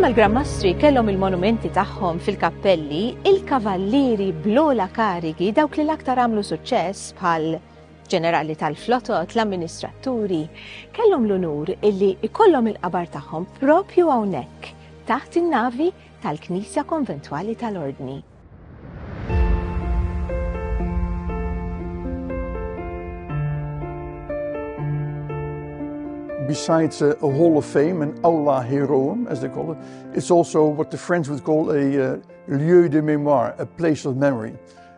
Bħalma l-Grammastri kellhom il-monumenti tagħhom fil-kappelli, il-kavallieri blola karigi dawk li l-aktar għamlu suċċess bħal ġenerali tal-flotot, l-amministraturi, kellhom l-unur illi ikollhom il-qabar tagħhom propju hawnhekk, taħt in-navi tal-Knisja Konventwali tal-Ordni. besides a, a, Hall of Fame, an Aula Heroum, as they call it, it's also what the French would call a uh, lieu de mémoire, a place of memory.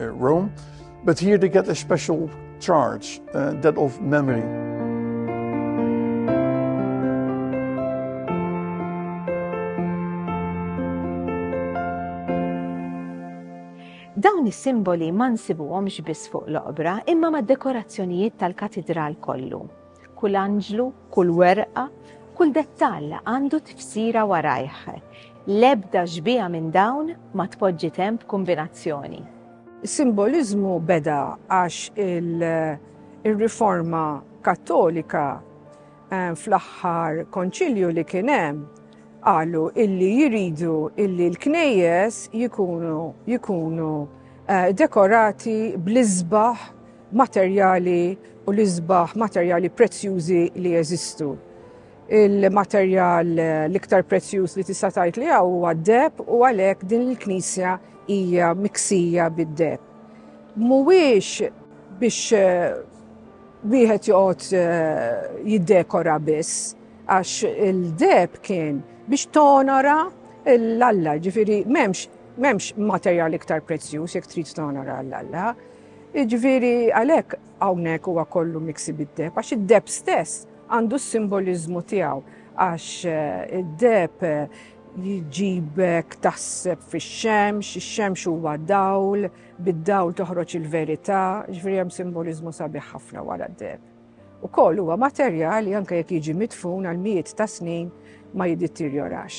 Uh, Rome, but here they get a special charge, uh, that of memory. Dawn is-simboli ma nsibuhomx biss fuq l-oqbra imma mad-dekorazzjonijiet tal-katidral kollu. Kull anġlu, kull werqa, kull dettall għandu tifsira warajh. L-ebda xbieha minn dawn ma tpoġġi temp b'kumbinazzjoni. Is-simboliżmu beda għax ir-Riforma Kattolika fl-aħħar Konċilju li kien hemm qalu illi jridu illi l-knejjes jkunu dekorati bl-isbaħ materjali u l-isbaħ materjali prezzjużi li jeżistu. Il-materjal l-iktar prezzjuż li tista' tgħid li hawn huwa d-deb u għalhekk din il-knisja hija miksija bid-deb. Mhuwiex biex eh, wieħed joqgħod eh, jiddekora biss għax il-deb kien biex tonora l-alla, ġifiri memx memx materjal iktar prezzjuż jekk trid tonora l-alla. Jiġifieri għalhekk hawnhekk huwa kollu miksi bid-deheb għax id-deheb stess għandu s-simboliżmu tiegħu għax id-deheb jġibek taħseb fix-xemx, ix-xemx huwa dawl, bid-dawl toħroġ il-verità, jiġifieri hemm simboliżmu sabiħ ħafna wara d-deheb. Ukoll huwa materjal li anke jekk jiġi midfun għal mijiet ta' snin ma jidittirjorax.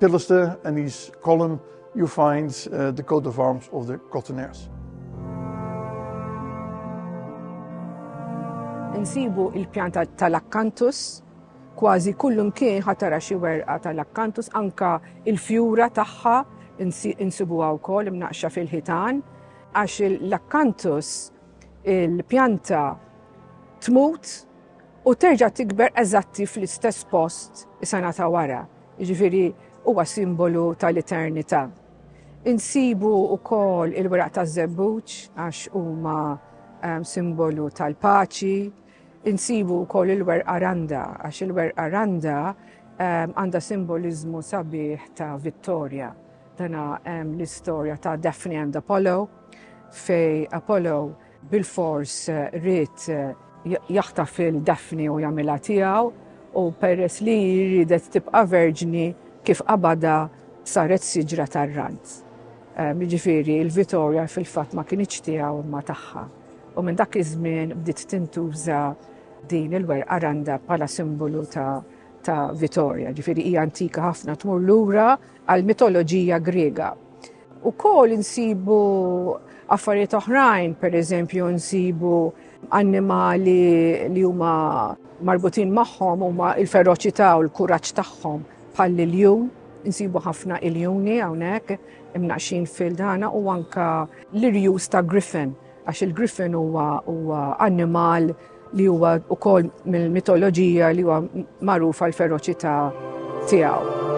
Pillister and his column, you find uh, the coat of arms of the Cotonaires. Insibu il-pjanta tal-Accanthus, kważi kullum kien ħatara xi werqa tal-Accanthus, anka il-fjura tagħha insibuha wkoll imnaqxa fil-ħitan, għax l-Accanthus il-pjanta tmut u terġa' tikber eżatti fl-istess post is-sena ta' wara, jiġifieri huwa simbolu tal-eternità. Insibu wkoll il-weraq taż-żebbuġ għax huma simbolu tal-paċi, insibu wkoll il-werqa randa għax il-werqa randa għandha simboliżmu sabiħ ta' vittorja. Dana hemm l-istorja ta' Daphne and Apollo fej Apollo Bilfors ried jaħtaf lil Daphne u jagħmilha tiegħu u peress li riedet tibqa' verġni kif qabadha saret siġra tar-rant. Ehm, jiġifieri il-Vittoria fil-fatt ma kinitx tiegħu imma tagħha. U minn dak iż-żmien bdiet tintuża din il-werqa randa bħala simbolu ta' ta' Vittoria, ġifiri hija antika ħafna tmur lura għal mitoloġija Griega. Ukoll insibu affarijiet oħrajn, per eżempju nsibu annimali li huma marbutin magħhom huma il-feroċità u l-kuraġġ tagħhom bħal l-iljun, insibu ħafna iljuni hawnhekk imnaqxin fil-dana u anka l-irjus ta' griffin, għax il-griffin huwa annimal li huwa wkoll mill-mitoloġija li huwa magħruf għal feroċità tiegħu.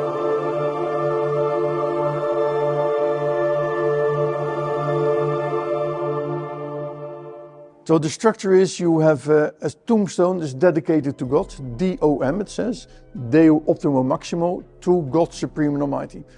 So the structure is you have a, uh, a tombstone is dedicated to God, D-O-M it says, Deo Optimo Maximo, to God Supreme and Almighty.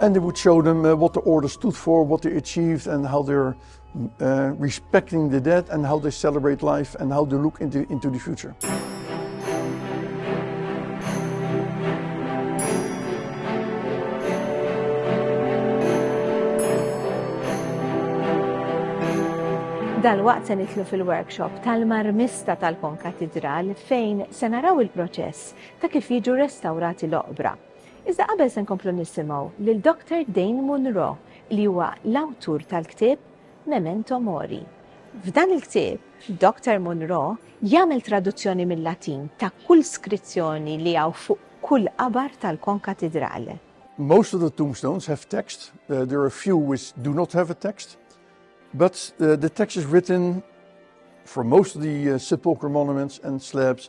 And they would show them uh, what the order stood for, what they achieved, and how they're uh, respecting the dead, and how they celebrate life, and how they look into, into the future. Dal-waqt se nitlu fil-workshop tal-marmista tal-Konkatidral fejn se naraw il-proċess ta' kif jiġu restawrati l-oqbra Iżda qabel se nkomplu nisimgħu lil Doctor Dane Munro li huwa l-awtur tal-ktieb Memento Mori. F'dan il-ktieb, Doctor Munro jagħmel traduzzjoni mil-Latin ta' kull skrizzjoni li hawn fuq kull qabar tal-Konkatidral. Most of the tombstones have text, there are a few which do not have a text, but the text is written for most of the sepulchral monuments and slabs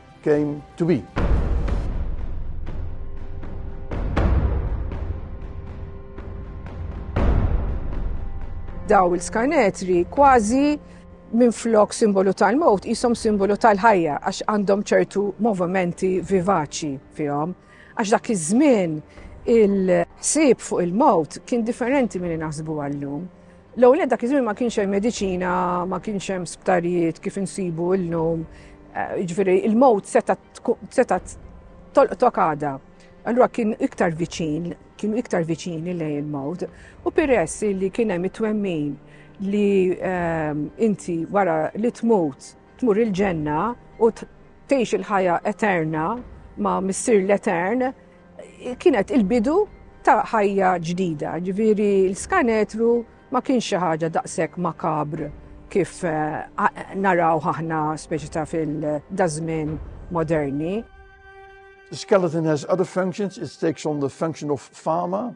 came to be. Daw il-skanetri kważi minn flok simbolu tal-mowt jisom simbolu tal-ħajja għax għandhom ċertu movimenti vivaċi fihom. Għax dak iż-żmien il-ħsieb fuq il-mowt kien differenti minn naħsbu għallum. L-ewwel nett dak iż-żmien ma kienx hemm mediċina, ma kienx hemm sptarijiet kif insibu llum. Eh, jiġifieri il-mowt seta' tolqtok għada. Allura kien iktar viċin, kienu iktar viċini lejn il-mowt. U peress li kien hemm it-twemmin li eh, inti wara li tmut tmur il-ġenna u tgħix il-ħajja eterna ma' missir l-etern, Kienet il-bidu ta' ħajja ġdida, ġifieri l-skanetru ma kienx xi ħaġa daqshekk makabr kif eh, naraw aħna speċi ta' fil-dażmin moderni. The skeleton has other functions. It takes on the function of farmer.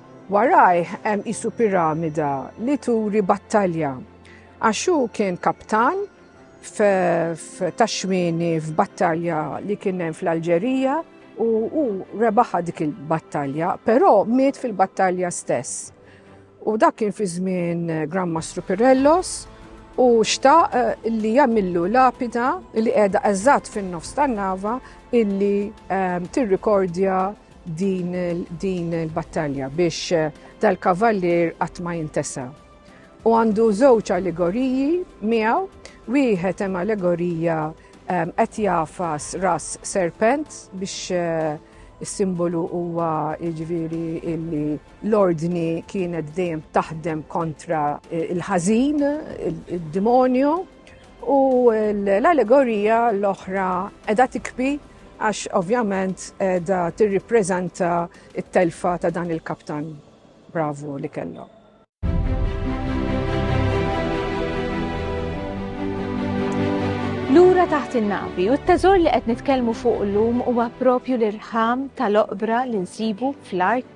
Warajh hemm qisu piramida li turi battalja għax hu kien kaptan f'taxmini f'battalja li kien hemm fl-Alġerija u hu rebaħa dik il-battalja, però miet fil-battalja stess. U dak kien fi żmien Grand Mastru Pirellos u xtaq eh, li jagħmillu lapida li qiegħda eżatt fin-nofs tan-nava illi eh, tirrikordja din il-battalja biex dal-kavallier qatt ma jintesa. U għandu żewġ allegoriji miegħu, wieħed hemm allegorija ehm, qed jafas ras serpent biex eh, is-simbolu huwa jiġifieri illi l-ordni kienet dejjem taħdem kontra eh, il-ħażin, id-demonju. U l-allegorija l-oħra edha tikbi għax ovvjament edha tirripreżenta it-telfa ta' dan il-kaptan bravu li kellhom. Lura taħt in-navi u t-teżor li qed nitkellmu fuq illum huwa propju l-irħam tal-oqbra li nsibu fl-art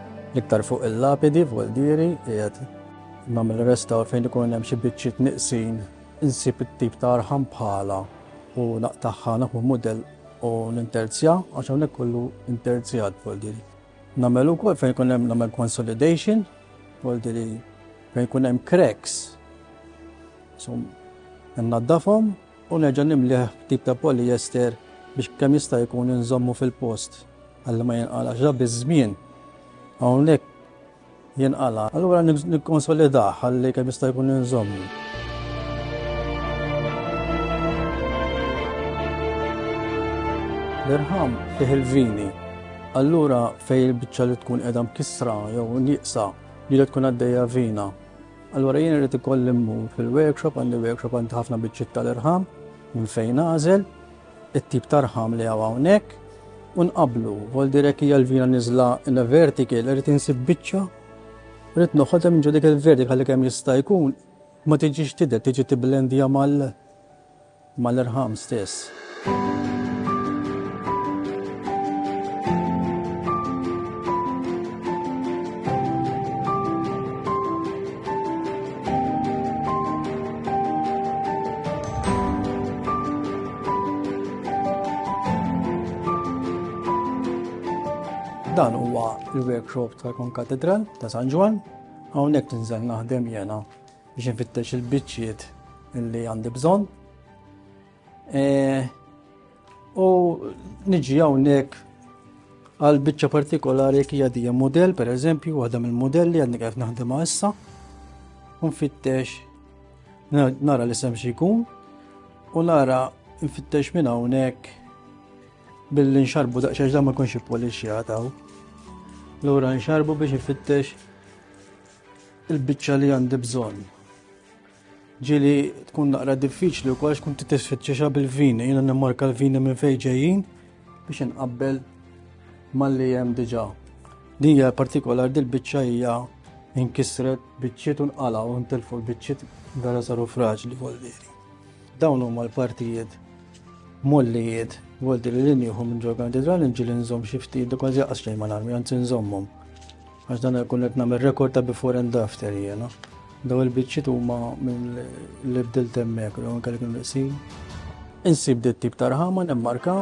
L-iktar fuq il-lapidi f'Gualdieri qiegħed nagħmel restawr fejn ikun hemm xi biċċiet nieqsin insib it-tip ta' arħam bħalha u naqtagħha naħu mudell u ninterzja għax hawnhekk kollu interzjat f'Gualdieri. Nagħmel ukoll fejn ikun hemm nagħmel consolidation Gualdieri fejn ikun hemm cracks. So, naddafhom u nerġa' nimlih b'tip ta' polyester biex kemm jista' jkun inżommu fil-post ħalli ma jinqalax. Ġa biż-żmien hawnhekk jinqala'. Allura nikkonsolidah ħalli kemm jista' jkun inżommu. L-irħam fih il-vini. Allura fej il-bicċa li tkun edha mkissra jew nieqsa li tkun għaddejja vina Allura jien irrid ikolli mmur fil-workshop, għandi workshop għandi ħafna biċċiet tal-irħam minn fejn nagħżel, it-tip tarħam li hawn hawnhekk, u nqablu, vol direk hija l-vina niżla in a vertical, irrid insib biċċa, irrid noħodha minn ġodik il-vertical li kemm jista' jkun, ma tiġix tidher, tiġi tiblendija mal- mal-irħam stess. Dan huwa l-workshop tal-Konkatedral ta' San Ġwann, hawnhekk ninżel naħdem jiena biex infittex il-biċċiet li għandi bżonn. E, u niġi hawnhekk għal biċċa partikolari jekk hija dija model, per eżempju, waħda mill-modelli għadni kif naħdem issa. Nfittex nara li sem xi jkun u nara nfittex minn hawnhekk billi nxarbu daqsxejn da ma jkunx ippolixxjata. Lura nxarbu biex ifittex il-biċċa li għandi bżonn. Ġili tkun naqra diffiċli u kollox kun titisfittxiexa bil-vini, jina nimmarka l-vini minn fejn ġejjin biex inqabbel mal-li hemm diġà. Dija partikolar dil-biċċa hija inkisret biċċiet u nqala u ntilfu l-biċċiet vera saru fraġli voldiri. Dawn huma l-partijiet mollijiet voldiri li nieħu minn ġorgan didra l-inġil nżomm xi ftit, kważi jaqas xejn mal-armi, anzi nżommhom. Għax dan jkun qed nagħmel rekord ta' before and after jiena. Daw il-biċċiet huma minn li bdilt hemmhekk u anke li kienu qsin. Insib dit tip ta' rħama nemmarka.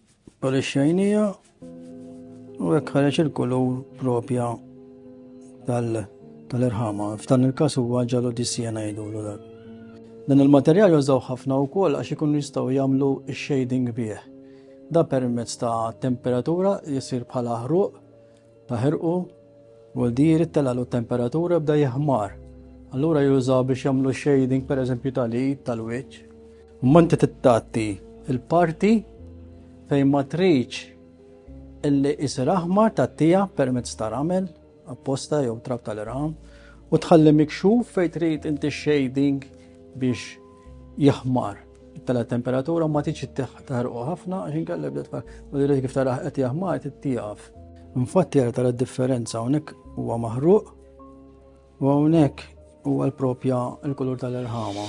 Polixxejnija u hekk ħareġ il-kulur propja tal-irħama. F'dan il-każ huwa ġalu dissija ngħidulu dak. Dan il-materjal jużaw ħafna wkoll għax ikun jistgħu jagħmlu shading bih. Da permezz ta' temperatura jisir bħala ħruq Ta' ħirqu, u l-diri telalu t-temperatura bda jihmar. Allura jużaw biex jagħmlu shading per eżempju tal-id, tal-wiċċ. Imma inti tittatti il-parti fejn ma tridx illi isir aħmar tattija permezz ta' ramel apposta jew trab tal-irham u tħalli mikxuf fejn trid inti shading biex jaħmar tala temperatura u ma tiġi taħrqu ħafna għax inkella bda tfal. U direk kif taraħ qed jaħmar tittieqaf. Infatti jara tara differenza hawnhekk huwa maħruq u hawnhekk huwa l-propja l-kulur tal-irħama.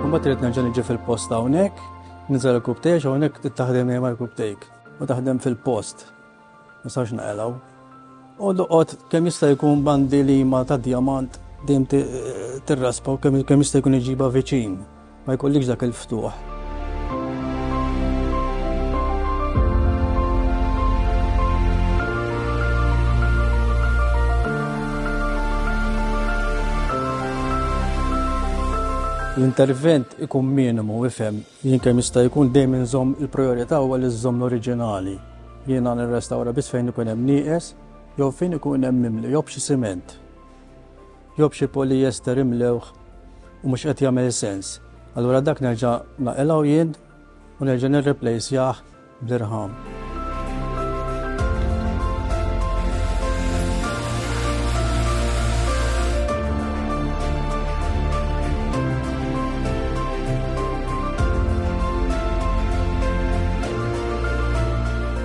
Mbagħad trid nerġa' niġi fil-post hawnhekk Nizzel il-kub tiegħi hawnhekk trid taħdem hija mal-kub tejk u taħdem fil-post. Ma sarx naqelgħu. U doqgħod kemm jista' jkun bandi li ma ta' djamant dejjem tirraspa u kemm jista' jkun iġiba viċin. Ma jkollikx dak il-ftuħ. L-intervent ikun minimu, ifhem. Jien kemm jista' jkun dejjem inżomm il-prijorità huwa li żżomm l-oriġinali. Jiena nirrestawra biss fejn ikun hemm nieqes jew fejn ikun hemm mimli jew b'xi siment jew b'xi polyester imlewh u mhux qed jagħmel sens. Allura dak nerġa' naqilgħu jien u nerġa' nirriplejsjah bl-irħam.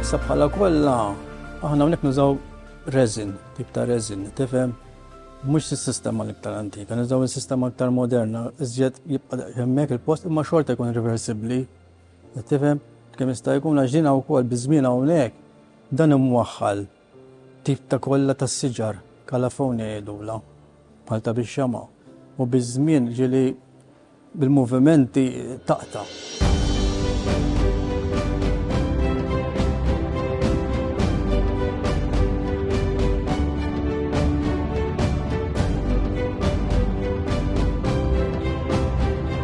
Issa bħala kollha aħna hawnhekk nużaw resin, tip ta' resin, tifhem? Mhux is-sistema l-iktar antika, nużaw is-sistema iktar moderna, iżjed jibqa' hemmhekk il-post imma xorta jkun reversibbli Qed tifhem? Kemm jista' jkun għax din wkoll biż-żmien hawnhekk dan imwaħħal tip ta' kolla tas-siġar, calaphone jgħidulha, bħal ta' bix-xama', u biż-żmien ġieli bil-movimenti taqta'.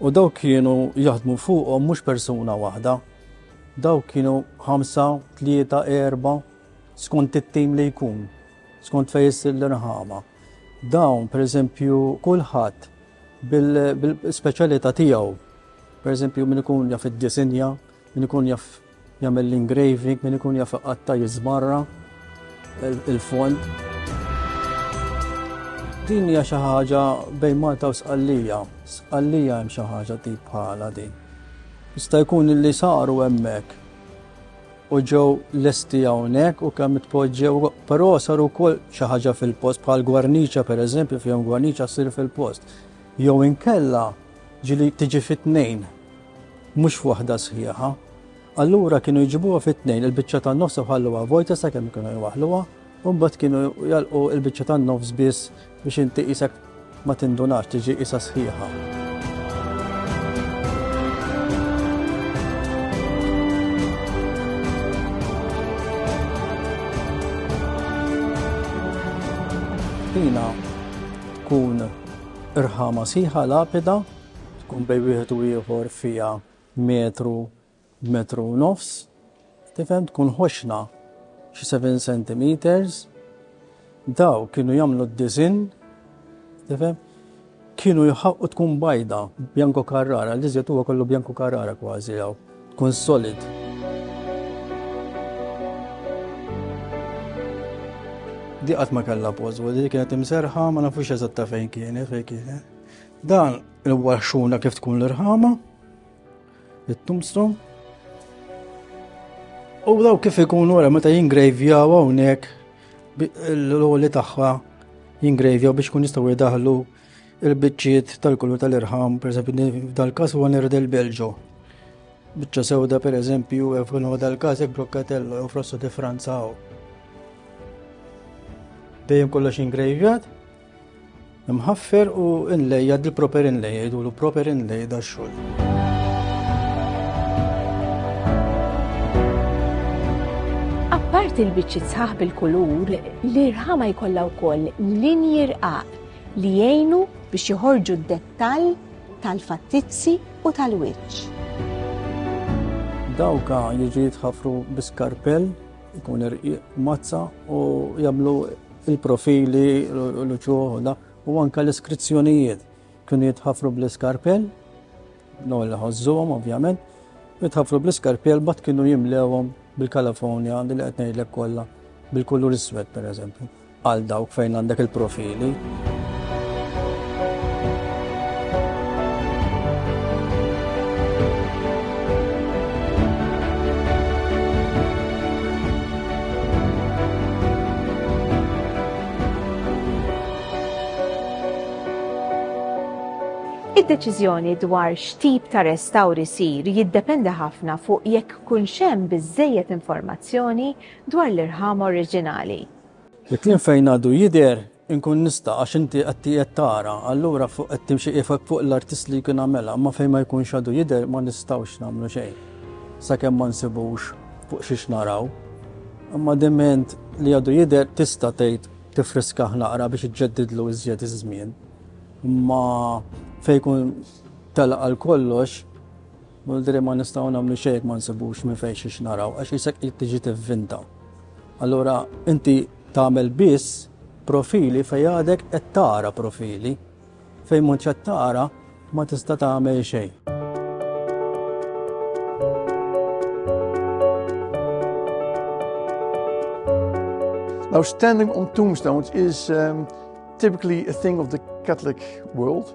U dawk kienu jaħdmu fuqhom mhux persuna waħda, dawk kienu ħamsa, tlieta, erba, skont it-tim li jkun, skont fejn issir l-irħama. Dawn, pereżempju, kulħadd bil-speċjalità tiegħu, pereżempju min ikun jaf id-disinja, min ikun jaf Jagħmel l-engraving, min ikun jaf iqatta' jiżbarra il-fond. Din hija xi ħaġa bejn Malta u Sqallija. Sqallija hemm xi ħaġa tip bħala din. Jista' jkun li saru hemmhekk u ġew lesti hawnhekk u kemm tpoġġew, però saru wkoll xi ħaġa fil-post bħal gwarniċa pereżempju fejn gwarniċa ssir fil-post. Jew inkella ġili tiġi fit-tnejn mhux waħda sħiħa. Allura kienu jġibuha fit-tnejn, il-biċċa tan-nofs u ħalluha vojta sakemm kienu jwaħluha, u mbagħad kienu jalqu il-biċċa tan-nofs biss biex inti qisek ma tindunax tiġi qisha sħiħa. Tina tkun irħama siħa lapida tkun bejn wieħed u ieħor fiha metru, metru u nofs, tifhem tkun ħoxna xi seven centimeters, daw kienu jagħmlu d-disinn, tifhem, kienu jħaqqu tkun bajda, bjanko karrara, li żjed huwa kollu bjanko karrara kważi hawn, tkun solid. Di qatt ma kellha pożwa, di kienet imserħa, ma nafux eżatta fejn kienet, fejn kienet. Dan il-waxxuna kif tkun l-irħama, it-tombstone, U daw kif ikun wara meta jingrejvjaw hawnhekk l-oli tagħha jingrejvjaw biex kun jistgħu jdaħlu il-biċċiet tal-kullu tal-irħam, pereżempju dal-każ huwa nerd il-Belġo. Biċċa sewda pereżempju eh, f'kunu dal-każ hekk brokkatello jew frosso di Franza hawn. Dejjem kollox jingrejvjat. Imħaffer u inlejja di proper inlejja jgħidulu proper inlejja da xogħol. Apparti l-biċċi sħaħ bil-kulur, l-irħama jkollha wkoll linji rqaq li jgħinu biex joħorġu d-dettall tal-fattizzi u tal-wiċċ. Dawka jiġi jitħafru biskarpell, ikun irqiq mazza u jagħmlu Il-profili, l-uċuħ, u anka l-iskrizzjonijiet kienu jitħafru bl-iskarpell, no li ħozzuhom ovvjament, jitħafru bl-iskarpell bat kienu jimlewhom bil-Kalifornja li qed ngħidlek kollha bil-kulur iswed pereżempju għal dawk fejn għandek il-profili. Id-deċiżjoni dwar x'tip ta' restawr isir jiddependi ħafna fuq jekk kunx hemm biżżejjed informazzjoni dwar l-irħam oriġinali. Il-kliem fejn għadu jidher Inkun nista' għax inti qed qiegħed tara, allura fuq qed timxi qifek fuq l-artist li jkun għamilha, imma fejn ma jkunx għadu jidher ma nistgħux nagħmlu xejn sakemm ma nsibux fuq xiex naraw. Imma diment li għadu jidher tista' tgħid tifriskah naqra biex iġġeddidlu iżjed iż-żmien. Imma fejn jkun telaq għal kollox, Mulder Ma nistgħu nagħmlu xejn jekk ma nsibux minn fejn xiex naraw, għax isek qed tiġi tivvinta. Allura inti tagħmel biss profili fejn għadek qed tara profili, fejn m'intx qed tara ma tista' tagħmel xejn. Now, standing on tombstones is um, typically a thing of the Catholic world.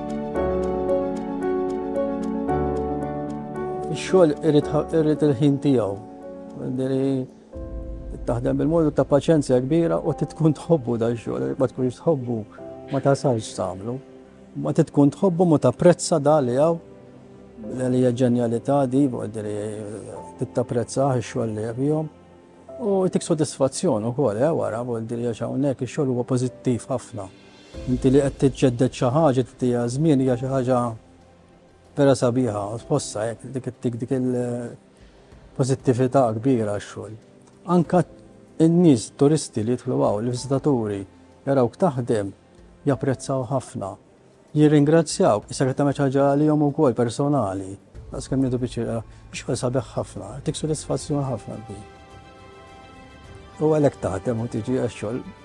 Ix-xogħol irid il-ħin tiegħu. Taħdem bil-mod u ta' paċenzja kbira u titkun tħobbu da xogħol, ma tkunx tħobbu ma tasalx tagħmlu. Ma titkun tħobbu ma tapprezza da li hawn li hija ġenjalità di, għaddiri tittaprezza x-xogħol li jabihom. U tik sodisfazzjon ukoll, eh, wara, għaddiri għax hawnhekk ix-xogħol huwa pożittiv ħafna. Inti li qed tiġġedded xi ħaġa tittiha żmien hija xi ħaġa vera sabiħa, tħossha hekk dik ittik dik il-pożittività kbira x-xogħol. Anka n-nies turisti li jidħlu hawn, l-viżitaturi, jarawk taħdem, japprezzaw ħafna. Jirringrazzjaw, issa qed tagħmel ħaġa għalihom ukoll personali. Għas kemm jidu biċċira, biex għal sabiħ ħafna, tik sodisfazzjon ħafna bi. U għalhekk taħdem u tiġi għax-xogħol